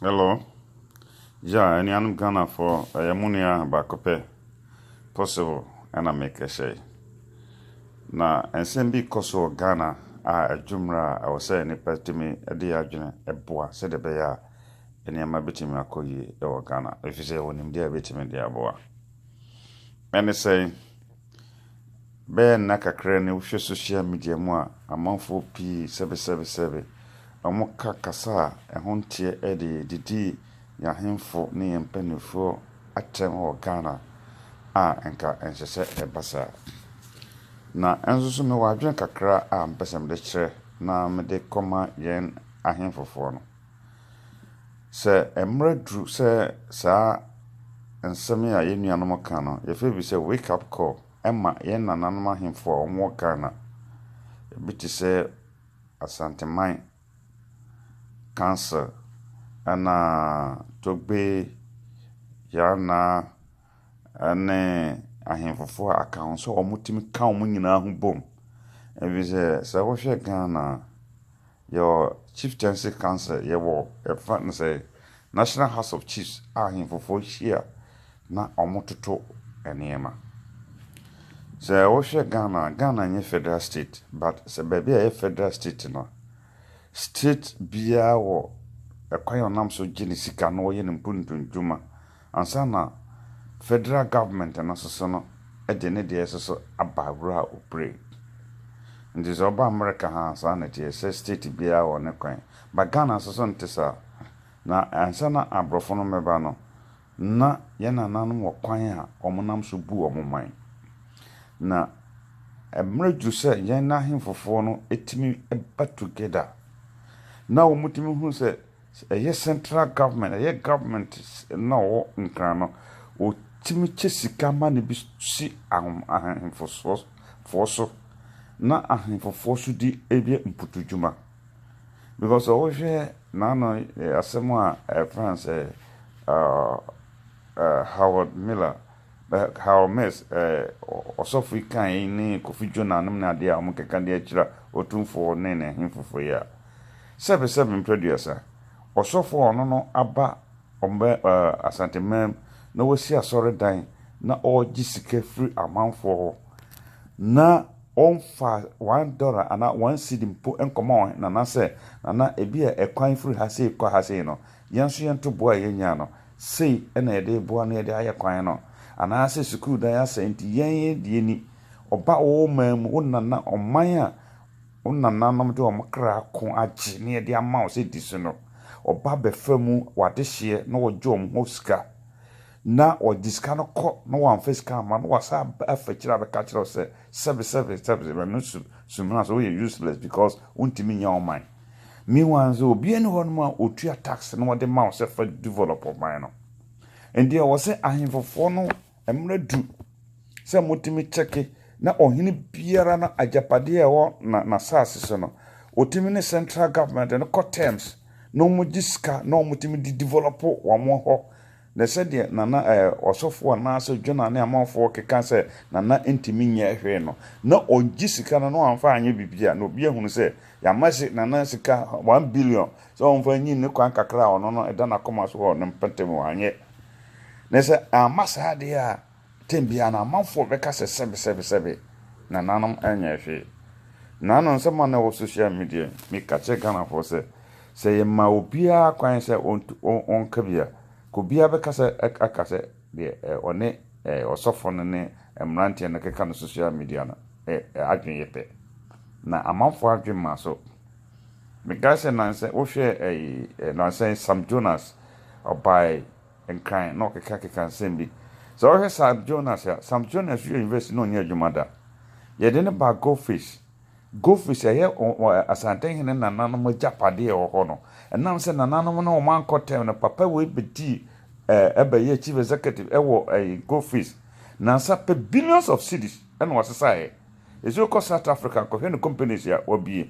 Hello gya anuanom Ghana foɔ ɛyɛ mo nua baako pɛ possible ɛna mekɛhyɛ yi na nsɛm bi kɔ so wɔ Ghana a ɛdwo mmerɛ a ɛwɔ sɛ nipa tumi de yɛ adwene ɛboa sɛdeɛ ɛbɛyɛ a nneɛma bɛtumi akɔ yie ɛwɔ Ghana ɛfiri sɛ yɛwɔ nimdeɛ a ɛbɛtumi de aboa ɛne sɛn Bɛyɛ nna kakra ni wohwɛ social media mu a amanfoɔ pii sɛbesɛbesɛbe, wɔka kasa a ɛho nteɛ de didii yɛn ahemfo ne yɛn mpanimfoɔ atɛm wɔ Ghana a nka ɛnsɛ sɛ ɛba saa. Na ɛnso so mewɔ adwene kakra a mepɛ sɛ mede kyerɛ na mede kɔma yɛn ahemfofoɔ no. Sɛ mmerɛ duru sɛ saa nsɛm yi a yɛn nuanom ka no, yɛfrɛ bi sɛ wake up call ma yɛn nananom ahemfo a wɔwɔ Ghana. Ɛbi te sɛ Asanteman council, ɛna Togbe, Yana, ɛne ahemfo a aka ho sɛ wɔtumi ka wɔn nyinaa ho bom. Ɛfiri sɛ, sɛ wohwɛ Ghana a, Yɛwɔ Chieftaincy Council, yɛwɔ yɛfrɛ no sɛ National House of Chiefs a ahenfofoɔ hyia na wɔtoto nneɛma. Sɛ wohwɛ Ghana a, Ghana nyɛ federal state but sɛ baabi a ɛyɛ federal state no, state biara wɔ kwan a ɔnam so gye ne sika na ɔyɛ ne mpuntuntuma. Ansa na Federal Government no soso no de ne deɛ soso aba wura Opre. Nti sɛ ɔba America ha a saa na ɛteɛ, sɛ state biara wɔ ne kwan. But Ghana nso so nte saa. Na ansa na abrɔfo no mmɛba no, na yɛn nananom wɔ kwan a wɔn nam so bu wɔn man. Na mmerɛ duru sɛ yɛn ahemfofoɔ no tumi ba together. Na wɔtumi hunu sɛ Sɛ ɛyɛ central government, ɛyɛ government no a ɔwɔ Nkran no, wɔtumi kyɛ sika ma no bi si ahom ahenfosoɔ foɔ so na ahenfofoɔ so di ɛyɛ mpotudwuma. Because sɛ wohwɛ naano asɛm a ɛfrɛ no sɛ Howard Miller, But how Miss eh, ɔsɔfo yi kaa yi ne Kofi Jonah nom ne adeɛ a wɔkeka de akyira Otumfoɔ ne ne he foforɔ yi a. Sɛbe sɛbe mprɛduasa, ɔsɔfo a ɔno no aba ɔmɛ eh, Asanteman na wasi asɔredan na ɔɔgye sika firi amanfoɔ hɔ na ɔmfaa one dollar anaa one cedi mpo nkɔma wɔn he Nana sɛ, Nana ebia ɛkwan firi ha sei kɔ ha sei no, yɛn nso yɛnto boa a yɛnyaa no, sei na yɛde reboa na yɛde ayɛ kwan no, anaasɛ sukuu dan asɛe nti yɛn deɛ ni, ɔba wo man mu, wo nana, ɔman a wo nananom de wɔn kra ko agye na yɛde ama wo sɛ di so no, ɔba bɛfa mu w'adehyeɛ na wɔgye wɔn hɔ sika, na wɔde sika no kɔ na wɔamfa sika amma na wɔasa aba afa akyire abɛka akyerɛ wo sɛ sɛbe sɛbe sɛbe, ɛno su, sumina sɛ woyɛ useless because wontumi nyɛ ɔman. Meanwhile nso obiara nni hɔnom a otua tax na ɔde ma wo sɛ fa develop ɔman no. Ɛnde ɛwɔ sɛ ahemfofoɔ no mmerɛ du sɛ motumi kyɛke na ɔhene biara no agyapadeɛ a ɛwɔ n'asaase so no ɔtumi ne central government no kɔ terms na wɔgye sika na wɔtumi de develop wɔn hɔ. Na sɛdeɛ Nana ɛɛ ɔsɔfoɔ anaasɛ Jonah ne amanfoɔ keka sɛ Nana ntumi nyɛɛ hwee no, na ɔgye sika no na wamfa anyɛ biribi a, na obi ahunu sɛ yɛama se Nana sika one billion sɛ ɔmfa nyi ne kwan kakra a ɔno no ɛda n'akoma so hɔ no mpɛtɛm wanyɛ. Na sɛ amma saa deɛ a, Tɛm biara no, amanfoɔ bɛka sɛ sɛbe sɛbe sɛbe na nanom nyɛɛ hwee. Naano nsɛm a na ɛwɔ social media yi, meka kyerɛ Ghanafoɔ sɛ, sɛ yɛma obiara kwan sɛ ɔntu ɔnka bi a, nka obiara bɛka sɛ aka sɛ deɛ ɔne ɔsɔfoɔ no ne mmeranteɛ no ɛkeka no social media no adwene yɛ pɛ. Na amanfoɔ adwene maa so. Mekae sɛ nansa wohwɛ ɛyi nansa yi Sam Jonas ɔbaeɛ nkran na ɔkekakeka nsɛm bi. Sɛ wohwɛ Sam Jonas a, Sam Jonas wiee university na ɔnyɛɛ adwuma da. Yɛde no baa Goldfish. Goldfish ɛyɛ Asantehene nananom agyapadeɛ a ɛwɔ hɔ no. Ɛnam sɛ nananom no wɔn ankɔ term no, papa wei bɛdii ɛɛ bɛyɛɛ chief executive ɛwɔ ɛyi Goldfish. Nansa pɛ billions of cedis ɛna ɔsesaeɛ. Ɛsɛ wokɔ South Africa nkɔhwɛ ne companies a wabue.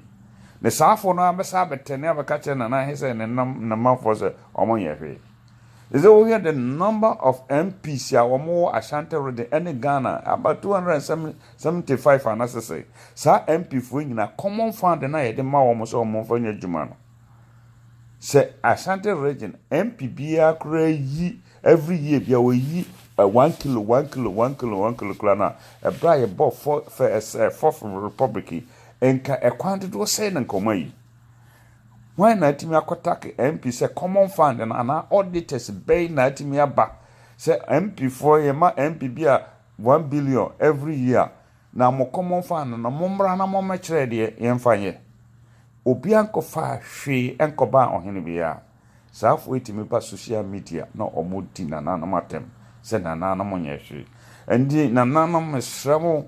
Ne saafoɔ no ara bɛsan abɛtɛne abɛka akyerɛ Nana Ahe sɛ ne nam ne manfoɔ sɛ wɔnyɛ hwee. Sɛ wohwɛ the number of MPs a wɔn wɔ Ashanti region ɛne Ghana about two hundred and seventy five a na sese saa MP foɔ nyinaa common fund na yɛde ma wɔn sɛ wɔn nfa nyɛ adwuma no sɛ Ashanti region MP biara koraa yi every year biara wɔyi eh, one kilo one kilo one kilo one kilo koraa na ɛbrɛ a yɛbɔ fɔ fɛ ɛsɛ fɔf republic yi nka ɛkwan dodoɔ sɛn na nka wɔn ayi. Hwan na atumi akɔtake MP sɛ common fund no anaa auditors bɛn na atumi aba sɛ MP foɔ yɛma MP bi a one billion every year na mo common fund no mommra na mommɛkyerɛ deɛ yɛmfa nyɛ. Obiara nkɔfaa hwee nkɔbaa ɔhene biara. Saafo yi tumi ba sohyial media na wɔdi nananom atɛm sɛ nananom nyɛ hwee. Ɛnti nananom mesrɛ mo,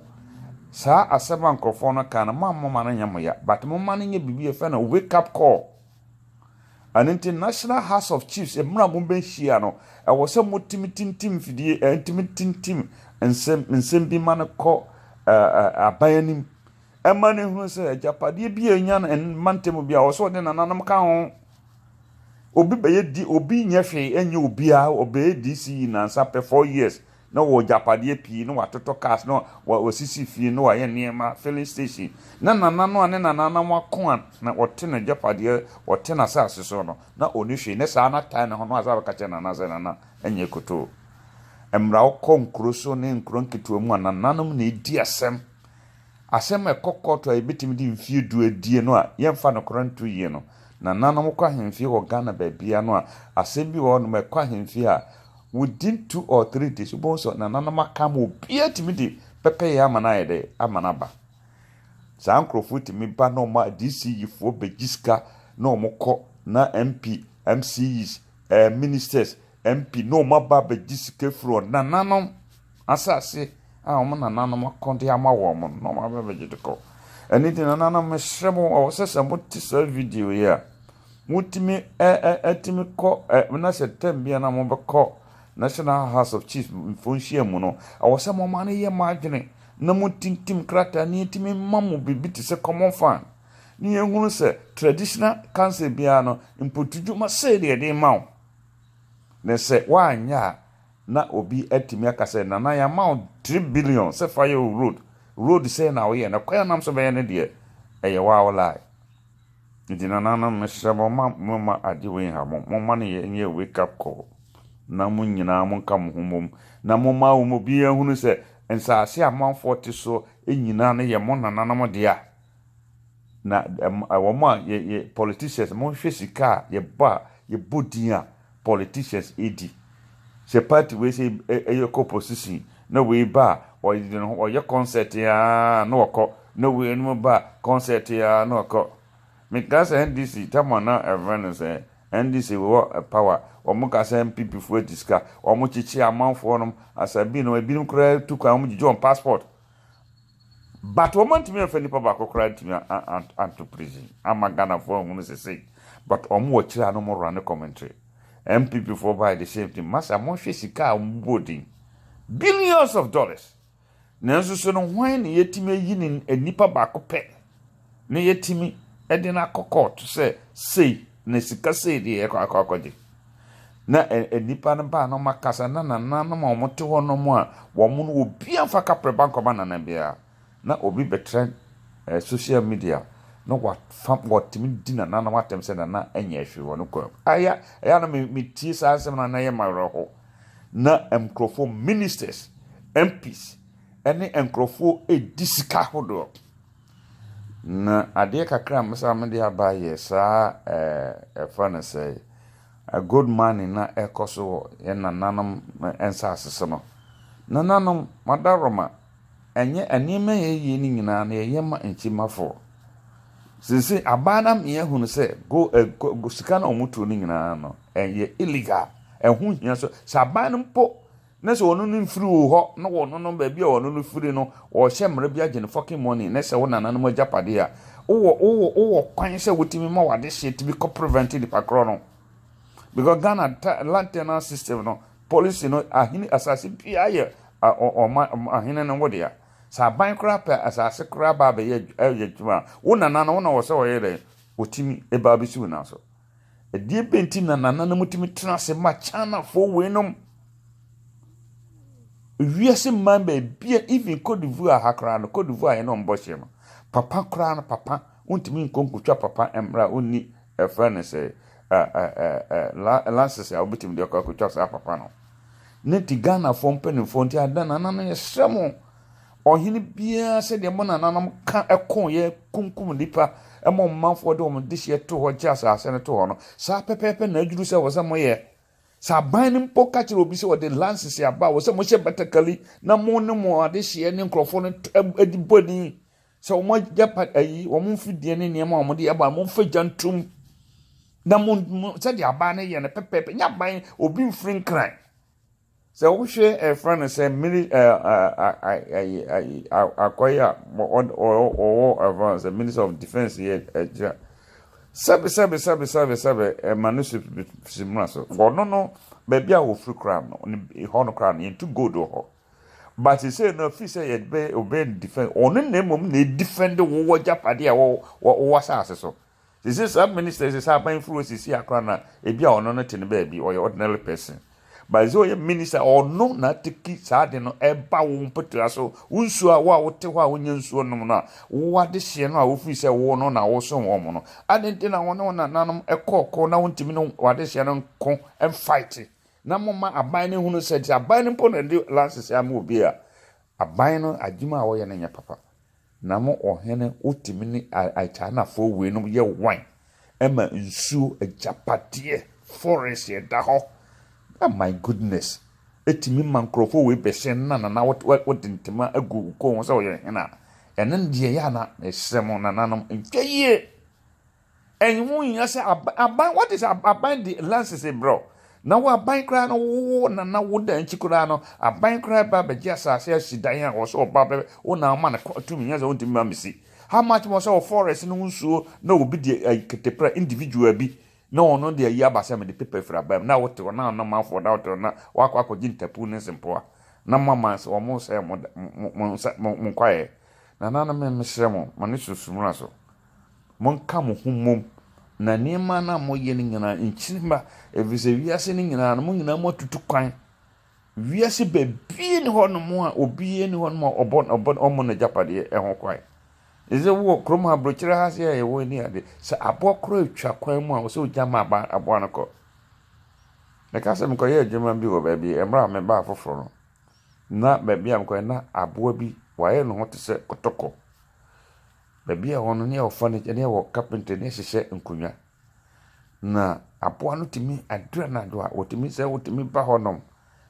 saa asɛm a nkurɔfoɔ no ka no, moammɔ ma no nyɛ mo ya, but momma no nyɛ biribi a yɛfrɛ no wake up call. Ɛno nti National House of Chiefs, mmerɛ a mobɛhyia no, ɛwɔ sɛ motumi tintim mfidie, ɛtumi tintim nsɛm, nsɛm bi ma no kɔ aban anim. Ɛma no hunu sɛ agyapadeɛ bi a ɛnya no mma ntɛm bi a, ɛwɔ sɛ ɔde nananom ka ho. Obi bɛyɛ D obi nyɛ hwee nyɛ obiaa ɔbɛyɛ DCE nansa pɛ four years na ɔwɔ agyapadeɛ pii na watotɔ cars na wasisi fie na wayɛ nneɛma filling station na nana no a ne nana no wako a na ɔte n'agyapadeɛ ɔte n'asase so no na ɔni hwee ne saa na tae ne ho na wasa bɛka kyerɛ nana sɛ nana nyɛ kotoo mmra wokɔ nkuro so ne nkuro nketewa mu a nananom na ɛdi asɛm Asɛm a ɛkɔ kɔɔto a yɛbɛtumi de mfeɛ du adie no a yɛmfa nokorɛ nto yie no, nananom kɔ ahemfie wɔ Ghana baabiara no a, asɛm bi wɔ hɔnom a ɛkɔ ahemfie a, within two or three days wobɛhu sɛ nananom aka ama obiara tumi de pɛpɛyɛ ama no ayɛ dɛ ama no aba. Saa nkorɔfoɔ tumi ba na wɔn DCEfoɔ bɛgye sika na wɔn kɔ na MP, MCEs, ɛɛ ministers, MP na wɔn aba abɛgye sika firi wɔn nananom. Asase a wɔn nananom ako de ama wɔn no, na wɔaba abɛgye de kɔ. Ɛno nti, nananom, mesrɛ mo, ɛwɔ sɛ sɛ mote saa video yi a, motumi atumi kɔ na sɛ tɛm bi a na mobɛkɔ National House of Chiefs mfo nhyia mu no, ɛwɔ sɛ moma no yɛ mo adwene na motintim krataa ne yɛtumi ma mo biribi te sɛ common fund ne yɛhunu sɛ traditional council biara no mpotudwuma sei deɛ de ma wo na sɛ woanyɛ a Na obi atumi aka sɛ, Nana, yɛama wo three billion sɛ fa yɛ wo road. Road sɛn na woyɛ? Na kwan a wonam so bɛyɛ no deɛ, ɛyɛ wo ara wo lie. Nti nananom, mesrɛ mo, mma momma ade wei nha mo. Momma no yɛ nyɛ wake up call, na mo nyinaa monka mo ho mmom, na momma wɔn mu biara nhunu sɛ nsaase a amanfoɔ te so nyinaa no yɛ mo nananom dea. Na wɔn a yɛ, yɛ politicians, monhwɛ sika a yɛbɔ a, yɛbɔ din a, politicians di. Sɛ party wei sɛ ɛyɛ kɔ opposition na wei ba a ɔyere ne ho ɔyɛ concert aa na ɔkɔ na wei nom ba a concert aa na ɔkɔ. Mekaa sɛ NDC tam a na ɛfrɛ no sɛ NDC wɔ power wɔn ka sɛ NPP foɔ adi sika wɔn kyekye amanfoɔ nom asabi nom ebinom koraa tu kwan wɔn gyegye wɔn passport. But wɔn antumi anfa nipa baako koraa antumi anto prison ama Ghana foɔ anhunu sesei but wɔn wɔ akyire a na wɔn runne commentary NPP foɔ baeɛ the same thing masa monhwɛ sika a wɔn bobɔɔ din billions of dollars nanso so no hwan na yɛtumi ayi ne nipa baako pɛ na yɛatumi de no akɔ kɔɔto sɛ sei na sika sei deɛ yɛkɔ akɔ akɔgye na nnipa no baa na wɔn akasa na nananom a wɔte hɔ nom a wɔn no obi anfa kaprɛ ba nkɔma nana biara na obi bɛtrɛn eh, social media na wafa watumi di nananom atɛm sɛ nana ɛnyɛ hwee wɔ no kwan mu ɛyɛ ɛyɛ na metie saa nsɛm no anayɛ ma werɛ ho na nkurɔfoɔ ministers mps ɛne nkurɔfoɔ ɛdi sika hodoɔ Na adeɛ kakra a mesan mede aba yɛ saa ɛɛ ɛfrɛ no sɛɛ ɛ gold mining na ɛkɔ so wɔ yɛn nananom nsaase so no. Nananom madaworoma ɛnyɛ ɛnneɛma a yɛyɛ no nyinaa no yɛyɛ ma nkyimafoɔ. Seesei abaa na me ahunu sɛ go ɛ go sika na wɔtuo no nyinaa no ɛyɛ illegal ɛho hia so sɛ aban no mpo Ne sɛ ɔno no mfiri wo hɔ na ɔno no baabi a ɔno no firi no ɔhyɛ mmara bi agye no fucking money ne sɛ wo nananom agyapadeɛ a wowɔ wowɔ wowɔ kwan sɛ wotumi ma w'adehyeɛ tumi kɔ prevent nipa korɔ no because Ghana land tenant system no policy no ahene asase biara yɛ ɔma ahene no wodea sɛ aban koraa pɛ asase koraa ba abɛyɛ ɛyɛ adwuma wo nana no wo na wɔ sɛ ɔyɛ dɛ ɔtumi ɛbaa bɛsi wo nan so Ɛdeɛ bɛn nti na nananom tumi tena ase ma Chinafoɔ weinom? Wiase mman baabi a even Cote d'Ivoire ha koraa no, Cote d'Ivoire yɛne wɔn bɔ hye no, papa koraa no papa wontumi nkɔ nkotwa papa mmerɛ a ɔnni ɛfrɛ no sɛ lances a wobɛtumi de akɔ akotwa saa papa no. Ne nti Ghanafoɔ mpanimfoɔ nti adɛn nananom yɛsrɛ mo Ɔhene biara sɛdeɛ mo nananom ka koeɛ kunkum nnipa ma wɔn manfoɔ de wɔn dehyeɛ too hɔ gyee asase no too hɔ no, saa pɛpɛɛpɛ na aduru sɛ ɛwɔ sɛ moyɛ. Sɛ aban no mpo ka kyerɛ obi sɛ ɔde lances aba a, ɛwɔ sɛ mohyɛ batakali na mo ne mo adehyeɛ ne nkurɔfoɔ no t ɛb ɛdi bɔ ani sɛ wɔn agyapad ayi, wɔn mfidie ne nneɛma a wɔde aba no, momfa gya ntom na mo, mo sɛdeɛ aban no yɛ no pɛpɛɛpɛ. Nyɛ aban, obi mfiri nkran. Sɛ wohwɛ ɛfrɛ no sɛ mili akɔyɛ a wɔwɔ ɛfrɛ no sɛ minister of defence yɛ ɛgyina sɛbi sɛbi sɛbi sɛbi sɛbi ɛma no si si muna so wɔno no baabi a wɔfiri koraa no hɔ no koraa no yɛntu gold wɔ hɔ but sɛ no fi sɛ yɛbɛ obɛ defend ɔno na mmom na defend wowɔ japade a wɔwɔ asase so They say saa minister yi sɛ sɛ aban firi hɔ sisi a koraa na ebi a ɔno no te ne baabi ɔyɛ ordinary person but sɛ ɔyɛ minister ɔno na ateki saa de no ɛba wo mpɔtua so wo nsuo a wo a wote hɔ a wonya nsuo nom no a wo adehyeɛ no a wofiri sɛ wo no na wosom wɔn no ade nti na wɔne wɔn nananom ɛkɔɔ ko na wontumi ne wadehyeɛ no nko mfaite na moma aban no hunu sɛ sɛ aban no mpo na de lances ama obi a aban no adwuma a wɔyɛ no nyɛ papa Na mo ɔhene, wotumi ne Chinafoɔ wei nom yɛ wine ma nsuo, agyapadeɛ, forest ɛda hɔ. Ah my goodness, ɛtumi ma nkorɔfoɔ wei bɛhyɛ nana na wode ntoma agu wo kɔn ho sɛ woyɛ hene a, ɛno deɛ ɛyɛ a na, mesrɛ mo nananom nhwɛ yie. Ɛho nhia sɛ aban aban what is aban de lances brɛ wo na wo aban koraa no wo na na wo da nkyi koraa no aban koraa ba bɛgye asase asi dan a wɔ sɛ ɔba bɛ wo na ama no tumi nyɛ sɛ wontumi ma mesi how much more sɛ wɔ forest no nsuo na obi de keteprɛ individual bi na ɔno de ayi aba sɛ mede pepa firi aban mu na wote hɔ na ɔnamanfoɔ na wote hɔ na wakɔ akɔgye ntapu ne sempoa na mo ama sɛ wɔn sɛ mo mo mo nsa mo mo nkwaeɛ nananom mesrɛ mo mo ne sunsumura so. Monka mo ho mmom, na nneɛma no a moyɛ no nyinaa nkyini mma, ɛfiri sɛ wiase no nyinaa no, mo nyinaa moatutu kwan. Wiase baabiara ni hɔnom a obiara ni hɔnom a ɔbɔ ɔbɔ ɔmmɔ n'agyapadeɛ ɛho kwan. Ɛsɛ wɔ kurom ha aburokyerɛ ha se a yɛwɔ ani ade sɛ aboa korɔ atwa kwan mu a ɔsɛ ogya ma aba aboa no kɔ. Meka sɛ mekɔyɛ adwuma bi wɔ baabi mmerɛ a mebaa foforɔ no na baabi a mekɔyɛ na aboa bi wayɛ ne ho te sɛ kɔtɔkɔ. Baabi a ɛwɔ no, ne yɛwɔ furniture, ne yɛwɔ carpentry, ne yɛhyehyɛ nkonnwa. Na aboa no tumi adu anadwo a, ɔtumi sɛ ɔtumi ba hɔnom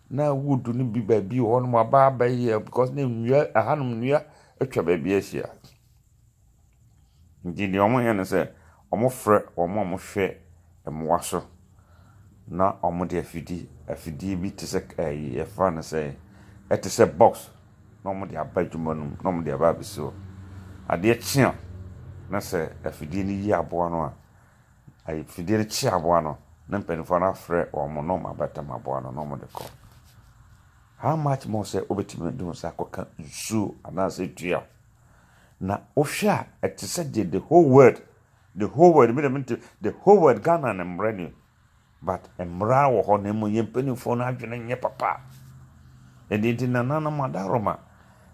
na wood no bi baabi wɔ hɔnom a aba abɛyɛ because na nnua ɛhanom nnua atwa baabi ahyia. Nti deɛ wɔyɛ ne sɛ, Wɔfrɛ wɔn a wɔhwɛ mmoa so na wɔde afidie afidie bi te sɛ ɛyi yɛfrɛ no sɛ ɛte sɛ box na wɔde aba adwuma no mu na wɔde aba abɛsi hɔ. Adeɛ kye a na sɛ afidie no yi aboa no a afidie no kye aboa no na mpanimfoɔ no afrɛ wɔn na wɔn abɛtam aboa no na wɔde kɔ. How much more sɛ wobɛtumi de wo nsa akɔka nsuo anaasɛ dua Na wohwɛ a ɛte sɛ deɛ the whole world, the whole world, me deɛ mente the whole world Ghana no mmara ni. But mmara wɔ hɔ na mmom yɛn mpanimfoɔ no adwene nyɛ papa. Ɛno nti nananom adaworoma,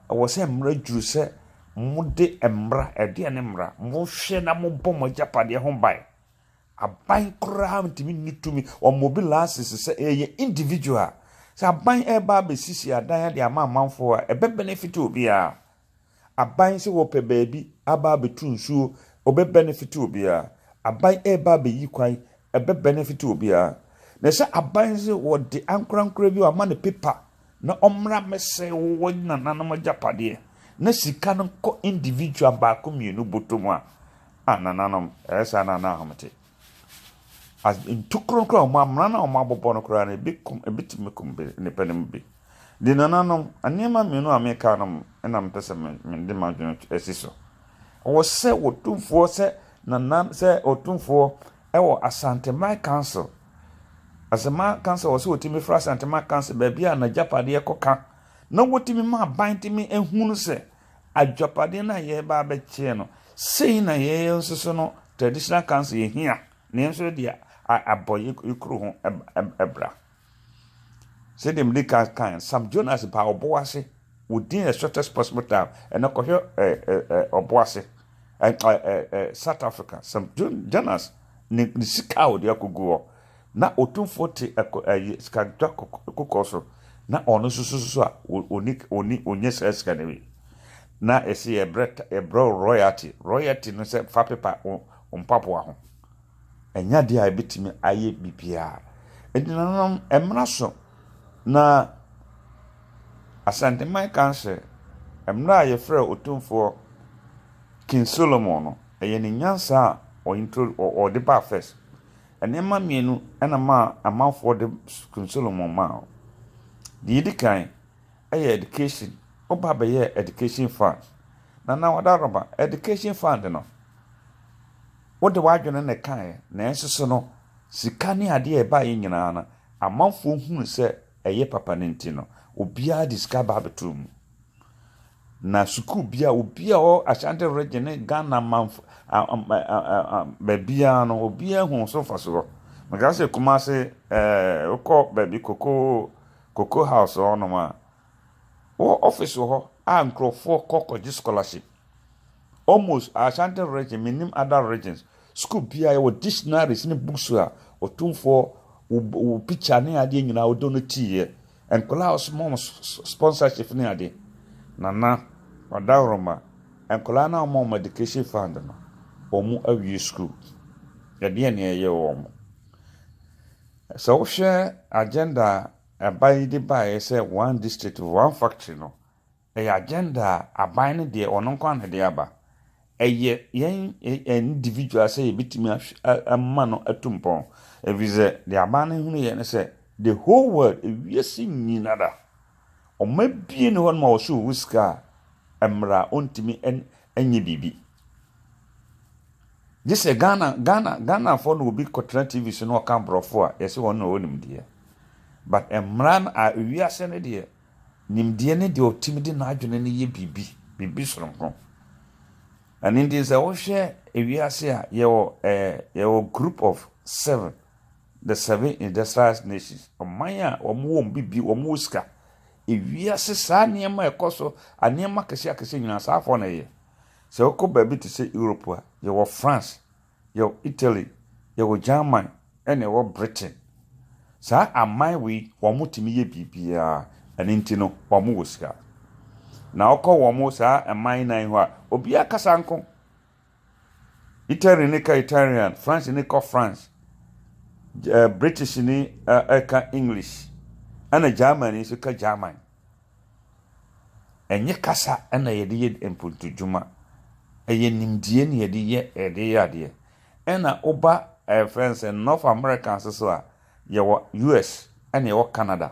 ɛwɔ sɛ mmara duru sɛ mode mmara, ɛdeɛ ne mmara, mohwɛ na mobɔ mo agyapadeɛ ho ban. Aban koraa ntumi nni tumi, wɔn obi laasese sɛ ɛyɛ individual. Sɛ aban ɛreba abɛsisi adan de ama amanfoɔ a, ɛbɛ benefit obiara. Aban sɛ wɔpɛ baabi aba abɛtu nsuo, ɔbɛ benefit obiara. Aban ɛreba abɛyi kwan, ɛbɛ benefit obiara. Na sɛ aban sɛ wɔde ankorankora bi wɔama no paper na ɔmmra mmɛsɛe wo nananom agyapadeɛ na sika no nkɔ individual baako mmienu bɔtɔ mu a, ah nananom, ɛyɛ saa na na ahomete. As in ntokuro koraa a, wɔn amena no a wɔabobɔ no koraa no, ebi kum ɛbɛtumi akum bi nnipa no mu bi. Nti nananom, nneɛma mmienu a meka no na mepɛ sɛ me mede m'adwene asi so. Ɛwɔ sɛ Otumfoɔ sɛ nana sɛ Otumfoɔ wɔ Asanteman Council. Asanteman Council wɔ sɛ wɔtumi fra Asanteman Council baabi a n'agyapadeɛ kɔka na wɔtumi ma aban tumi ehunu sɛ Adwapade no a yɛreba abɛkyɛ no, sei na yɛn nso so no, Traditional Council yɛhia na yɛn nso yɛde abɔ yɛn kuro ho bra. Sɛdeɛ mede ka kan, Sam Jonas baa Ɔboase, within a shortest possible time, ɛnɛ kɔhwɛ Ɔboase, South Africa, Sam Jonas ne sika a wɔde akɔgu hɔ, Ná otumfoɔ te ɛko, ɛyi, sikadwetwa kokoɔ so, na ɔno nso susu a ɔnni, ɔnni, ɔnyɛ saa sika no bi. Ná ɛsɛ yɛbrɛ, yɛbrɛ wo royalty. Royalty no sɛ fa pepa wo mpaboa ho. Ɛnyɛ adeɛ a ɛbɛtumi ayɛ biribiara. Enti nananom, ɛmmra so na Asanteman Council, ɛmmra a yɛfrɛɛ otumfoɔ King Solomon no, ɛyɛ ne nyansa a ɔ intro, ɔ, ɔde baa first. Nneɛma mmienu na maa amanfoɔ de King Solomon maa wo. Deɛ ɛdi kan yɛ education. Wo ba bɛyɛɛ education fund. Nana Wada Rɔba, education fund no, wode w'adwene na ɛkaeɛ. Nanso so no, sika ne adeɛ a ɛbaeɛ nyinaa no, amanfoɔ hunu sɛ ɛyɛ papa no nti no, obiara de sika ba abɛtoo mu. Na sukuu biara, obiara a ɔwɔ Ashanti Region ne Ghana manfo baabiara no, obiara hu so mfasoɔ. Meka sɛ Kumase ɛɛ wokɔ baabi koko koko house hɔnom a, wɔ office wɔ hɔ a nkurɔfoɔ kɔ kɔgye scholarship. Almost Ashanti region mennim other regions school biara yɛwɔ dictionaries ne books a ɔtumfoɔ wo wo picture ne adeɛ nyinaa wode no tiiɛ nkwadaa a ɔsoma wɔn sponsorship ne adeɛ nana ɔdahoroma nkwadaa no a wɔma wɔn education fund no wɔn awie school ɛdeɛ ne ɛyɛ wɔn sɛ wohwɛ agenda a ɛba yi de baeɛ sɛ one district one factory no Ɛyɛ agenda a aban no deɛ ɔno nko ara na ɛde aba. Ɛyɛ yɛn individual sɛ yɛbɛtumi ahw ama no atu mpɔn. Ɛfiri sɛ deɛ aban no hunuiɛ ne sɛ the whole world, ewiase nyinara, wɔabue no hɔ nom a wɔso owu sika a ɛmmra a ɔntumi nyɛ biribi. Gye sɛ Ghana, Ghana, Ghanafoɔ na obi kɔtena TV so na ɔka aborɔfo a yɛsɛ wɔn na wɔwɔ nimdeɛ. But mmara no a ewiase no deɛ Nimdeɛ ne deɛ ɔtumi de n'adwene no yɛ biribi, biribi sononko. Ɛno nti sɛ wohwɛ ewiase a, yɛwɔ eh, yɛwɔ group of seven, the seven industrialized nations, ɔman a wɔn wɔ wɔn biribi, wɔn wɔ sika. Ewiase saa nneɛma a ɛkɔ so, nneɛma akɛseɛ akɛseɛ nyinaa saa afoɔ na ɛyɛ. Sɛ wokɔ baabi te sɛ Europe a, yɛwɔ France, yɛwɔ Italy, yɛwɔ German ɛna yɛwɔ Britain. Saa aman wei wɔn tumi yɛ biribiara ɛno nti no wɔn wɔ sika. Na ɔkɔ wɔn saa ɛman nan hɔ a obiara kasa nko. Italy ne ka Italian, France ne kɔ France, eh, British ne eh, ɛka English, ɛna German nso ka German. Ɛnyɛ kasa na yɛde yɛ mpontudwuma. Ɛyɛ nimdeɛ na yɛde yɛ yɛde yɛ adeɛ. Ɛna woba yɛfrɛ no sɛ North America nso so a, yɛwɔ US ɛna yɛwɔ Canada.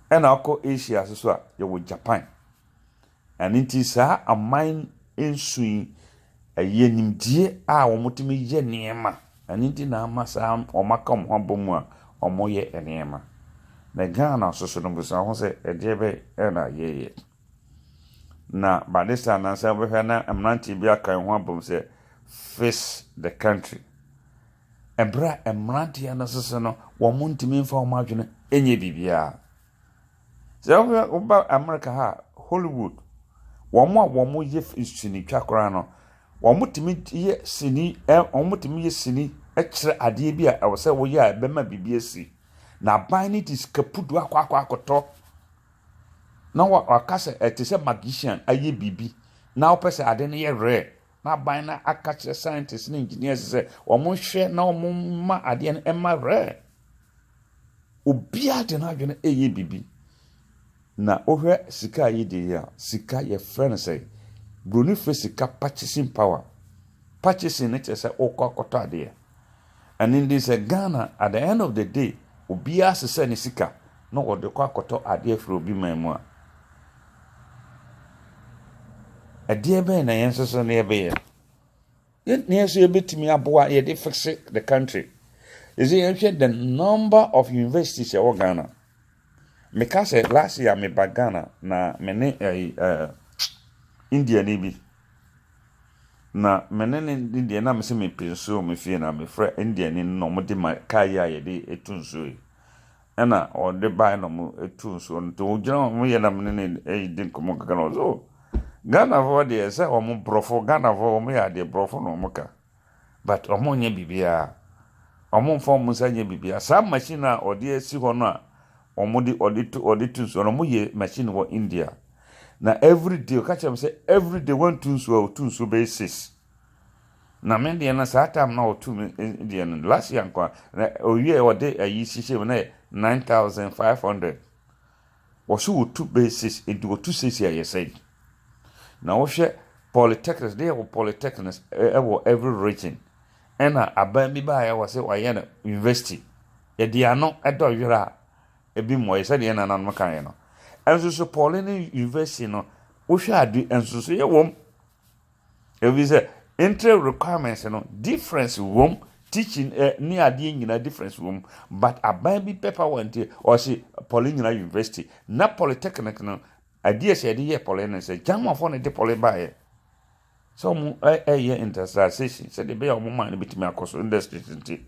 Ɛna wokɔ Asia nso so a, yɛwɔ Japan. Ɛno nti saa aman nson yi, ɛyɛ nimdeɛ a wɔtumi yɛ nneɛma. Ɛno nti na ama saa wɔaka wɔn ho abɔ mu a wɔyɛ nneɛma. Na Ghana nso so no, bisa wo ho sɛ, ɛdeɛ bɛn na yɛyɛ? Na by this time na sɛ wobɛhwɛ na mmeranteɛ bi aka wɔn ho abom sɛ fix the country. Ɛberɛ a mmeranteɛ no nso so no, wɔntumi mfa wɔn adwene nyɛ biribiara. Sɛ wohwɛ woba America ha a, Hollywood, wɔn a wɔyɛ fi sinitwa koraa no, wɔtumi yɛ sini ɛ wɔtumi yɛ sini kyerɛ adeɛ bi a ɛwɔ sɛ wɔyɛ a ɛbɛma biribi asi. Na aban no de sika pudu akɔ akɔ akɔtɔ na wa waka sɛ ɛte sɛ magician ayɛ biribi na wopɛ sɛ ade no yɛ rare na aban no aka kyerɛ scientists ne engineers sɛ wɔnhwɛ na wɔmma adeɛ no ɛma rare. Obiara de n'adwene reyɛ biribi. Na wohwɛ sika a yɛdi yi a, sika yɛfrɛ no sɛ Buroni frɛ sika purchasing power. Purchasing no kyerɛ sɛ wokɔ akɔtɔ adeɛ. Ɛno nti sɛ Ghana at the end of the day obiara sesɛ ne sika na ɔde kɔ akɔtɔ adeɛ firi obi man mu a, ɛdeɛ bɛn na yɛn nso so yɛbɛyɛ? Yɛtumi nso yɛbɛtumi aboa yɛde fixe the country ɛsɛ yɛhwɛ the number of universities ɛwɔ Ghana meka sɛ last year meba Ghana na me ne ɛyi ɛɛ India ni bi na me ne ne deɛ na me sɛ me pɛ nsuo me fie na me frɛ India ni na wɔn de ma kaa yi a yɛde etu nsuo yi Ɛna ɔde bae na ɔmo tuu nsuo no, nti ɔgyina hɔ ɔmo yɛ na mene no redi nkɔmɔ kakra na ɔse oh Ghanafoɔ deɛ sɛ ɔmo brɔfo Ghanafoɔ ɔmo yɛ adeɛ brɔfo na ɔmo ka but ɔmo nyɛ biribiaa ɔmo nfa ɔmo nsa nyɛ biribiaa saa machine no a ɔde asi hɔ no a ɔmo de ɔde tu ɔde tu nsuo no ɔmo yɛ machine wɔ India na everyday ɔka kyerɛ me sɛ everyday wantu nsuo a ɔtu nsuo bɛyɛ six Na me deɛ no saa time na ɔtu me deɛ no last year nkoa na owie ɔde ayi hyehyɛ mu na yɛ nine thousand five hundred wɔsi wɔtu bɛyɛ six nti wɔtu six yɛ yɛ sɛn na wɔhwɛ polytechnics deɛ wɔ polytechnics ɛwɔ every region ɛna aban bi baa yɛ wɔ sɛ wɔayɛ no university yɛde ano ɛdɔ yɛrɛ a ebi mu ɔyɛ sɛdeɛ nananom kan yɛ no ɛnso so poly ne university no wohwɛ ade ɛnso so yɛ wɔm Efisɛ entry requirements no difference wom, teaching eh, ne adeɛ nyinaa difference wom. But aban bi pɛ power nti ɔse pɔle nyinaa university. Na polytechnic no adeɛ sɛ yɛde yɛ pɔle no sɛ Germanfoɔ na ɛde pɔle baeɛ. Sɛ wɔn ɛyɛ industrialization sɛdeɛ ɛbɛyɛ a wɔn man no bɛtumi akɔ so industries nti.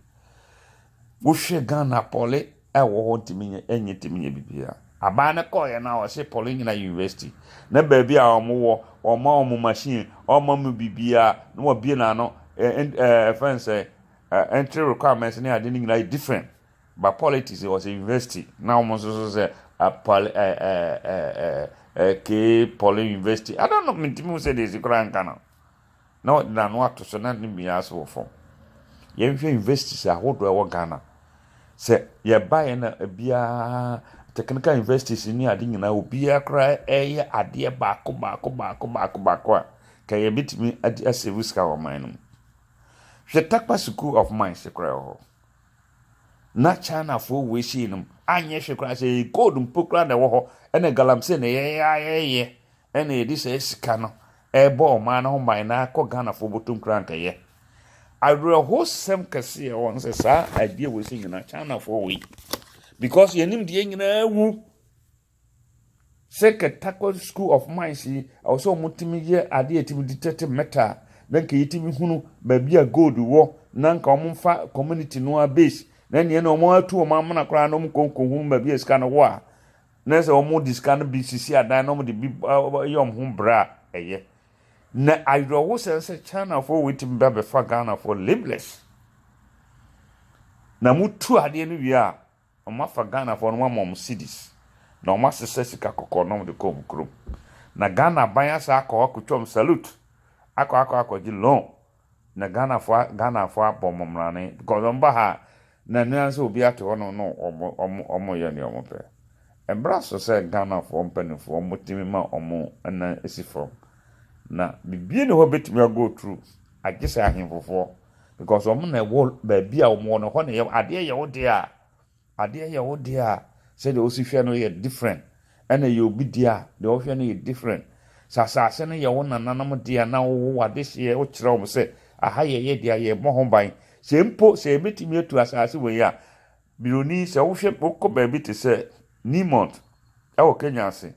Wohwɛ Ghana poly a ɛwɔ hɔ ntumi nyɛ ɛnyɛ ntumi nyɛ biribiara. Abaa no kɔɔeɛ no a ɔse poly nyina yɛ university na baabi a wɔn wɔ wɔn ma wɔn machine wɔn ma wɔn biribiara na wɔabie no ano eh eh ɛfɛn eh, sɛ eh, entry requirements ne ade no nyina yɛ different but politics ɔse university na wɔn nso so sɛ eh, poly eh, eh, eh, eh, eh, kee poly university I don't know mentumi hu sɛ deɛ ɛsi koraa nka no na ɔde n'ano ato so na ne mia ase wɔ fam. Yɛnhwɛ universities ahodoɔ a ɛwɔ Ghana. Sɛ yɛbaeɛ na biara technical universities ne ade nyinaa obiara koraa ɛreyɛ adeɛ baako baako baako baako baako a ka yɛbɛtumi adi asave sika wɔ ɔman no mu. Hwɛ Takpa School of Mines koraa wɔ hɔ. Na Chinafoɔ wei sei no anyɛ hwɛ koraa sɛ gold mpo koraa na ɛwɔ hɔ ɛna galamsey na yɛyɛ ayɛyɛ na yɛde saa sika no rebɔ ɔman no ho ban na akɔ Ghanafoɔ bɔtɔ nkrankayɛ. Awerɛhosɛm kɛse a ɛwɔ no sɛ saa adeɛ wɔ sɛ nyinaa Chinafoɔ wɔ yi because yɛnim deɛ nyinaa wu sɛ kɛtakɔ school of mines yi ɛwɔ sɛ wɔtumi yɛ adeɛ ɛtumi di tɛte mɛta a na nka yɛtumi hunu baabi a gold wɔ na nka wɔmfa community no a base na nneɛ na wɔatu wɔn amena koraa na wɔnkɔnkɔ hunu baabi a sika no wɔ a na sɛ wɔde sika no bi sisi adan na wɔde bi yɛ wɔn ho bra a, ɛyɛ. Na awerɛhosɛm sɛ Chinafoɔ wɔatumi ba bɛfa Ghanafoɔ labeless. Na motu adeɛ no wie a, wɔafa Ghanafoɔ no wɔama wɔn cedis. Na wɔasesa sika kɔkɔɔ na wɔde kɔ wɔn kurom. Na Ghana aban asa akɔ akɔtwa wɔn salute akɔ akɔ akɔgye loan. Na Ghanafoɔ Ghanafoɔ abɔ wɔn mmrane because wɔn ba ha a na ɛno ara sɛ obi ate hɔ nom na wɔn wɔn wɔyɛ nea wɔn pɛ. Ɛbra so sɛ Ghanafoɔ mpanimfoɔ wɔn tumi ma wɔn nan si fam. Na biribiara ni hɔ bɛtumi a go through agye sɛ ahemfofoɔ because wɔn na ɛwɔ baabi a wɔn wɔ no ɛhɔ na ɛyɛ adeɛ yɛ wo dea a. Adeɛ yɛ wo deɛ a sɛdeɛ wosi hwɛ no yɛ different ɛna ɛyɛ obi deɛ a deɛ ɔhwɛ no yɛ different. Sɛ asaase no yɛ wo nananom deɛ a na wowo wo adehyeɛ wokyerɛ wɔn sɛ aha yɛ yɛ deɛ a yɛbɔ ho ban. Sɛ mpo sɛ yɛbɛtumi atu asaase wei a Buroni sɛ wohwɛ wokɔ baabi te sɛ Neomont ɛwɔ Kenya ase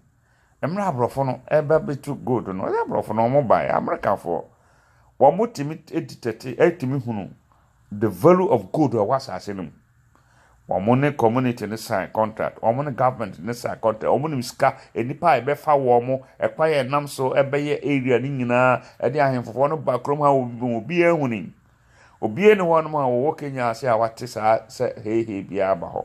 Mmerɛ abrɔfo no ɛreba bɛtu gold no, ɔyɛ abrɔfo no wɔn baeɛ, Amerikafoɔ, wɔn tumi ɛditɛte, ɛtumi hunu the value of gold ɛwɔ asaase no mu. Wɔn ne community no sign contract, wɔn ne government no sign contract, wɔn nim sika, nnipa a ɛbɛfa wɔn, ɛkwan a ɛnam so ɛbɛyɛ area no nyinaa, ɛde ahemfofoɔ no ba kurom ha, obiara hunim. Obia ni hɔ nom a wɔwɔ Kenya ase a wate saa sɛ heihei biaa ba hɔ.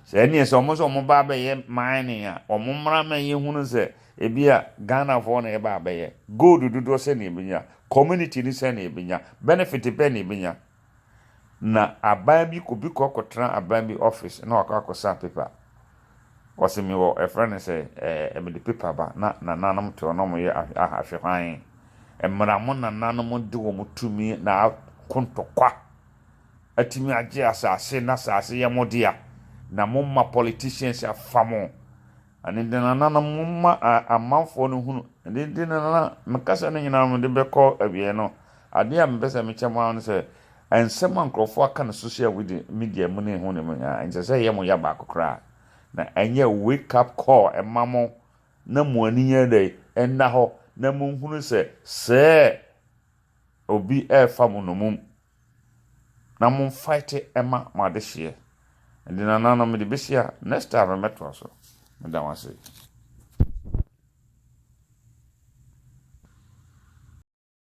Sɛ ɛneɛ sɛ ɔmo sɛ ɔmo ba abɛyɛ mining a, ɔmo mmra ma yɛ hunu sɛ ebia Ghanafoɔ na ɛba abɛyɛ. Gold dodoɔ sɛn na yɛbɛnya? Community no sɛn na yɛbɛnya? Benefit bɛn na yɛbɛnya? Na aban bi, obi kɔ akɔtena aban bi office na wakɔ akɔsan paper. Ɔse me wɔ ɛfrɛ no sɛ ɛɛ mede paper ba na nananom te hɔ na ɔmo yɛ ahw ahwɛ hwan mmra mo nananom de wɔn tumi na ako ntɔkwa atumi agye asase na asase yɛ mo dea na mo ma politicians afa mo ɛno nti nananom mo ma amanfoɔ no hunu ɛno nti nana me kasa no nyinaa mede bɛkɔ awieɛ no adeɛ a mepɛ sɛ mekyɛ mo ara no sɛ Nsɛm a nkurɔfo aka no sohyia widi midia mu ne ho ne mu nyinaa, ɛnsɛ sɛ ɛyɛ mo ya baako koraa, na ɛnyɛ wake up call mma mo na mo ani nyɛ dɛn, nna hɔ na monhunu sɛ sɛɛ obi ɛɛfa mo nomum na mo nfaete ɛma mo adehyeɛ. Ɛnde nananom mede bɛsi ha, next time mɛtoa so. Meda mo ase.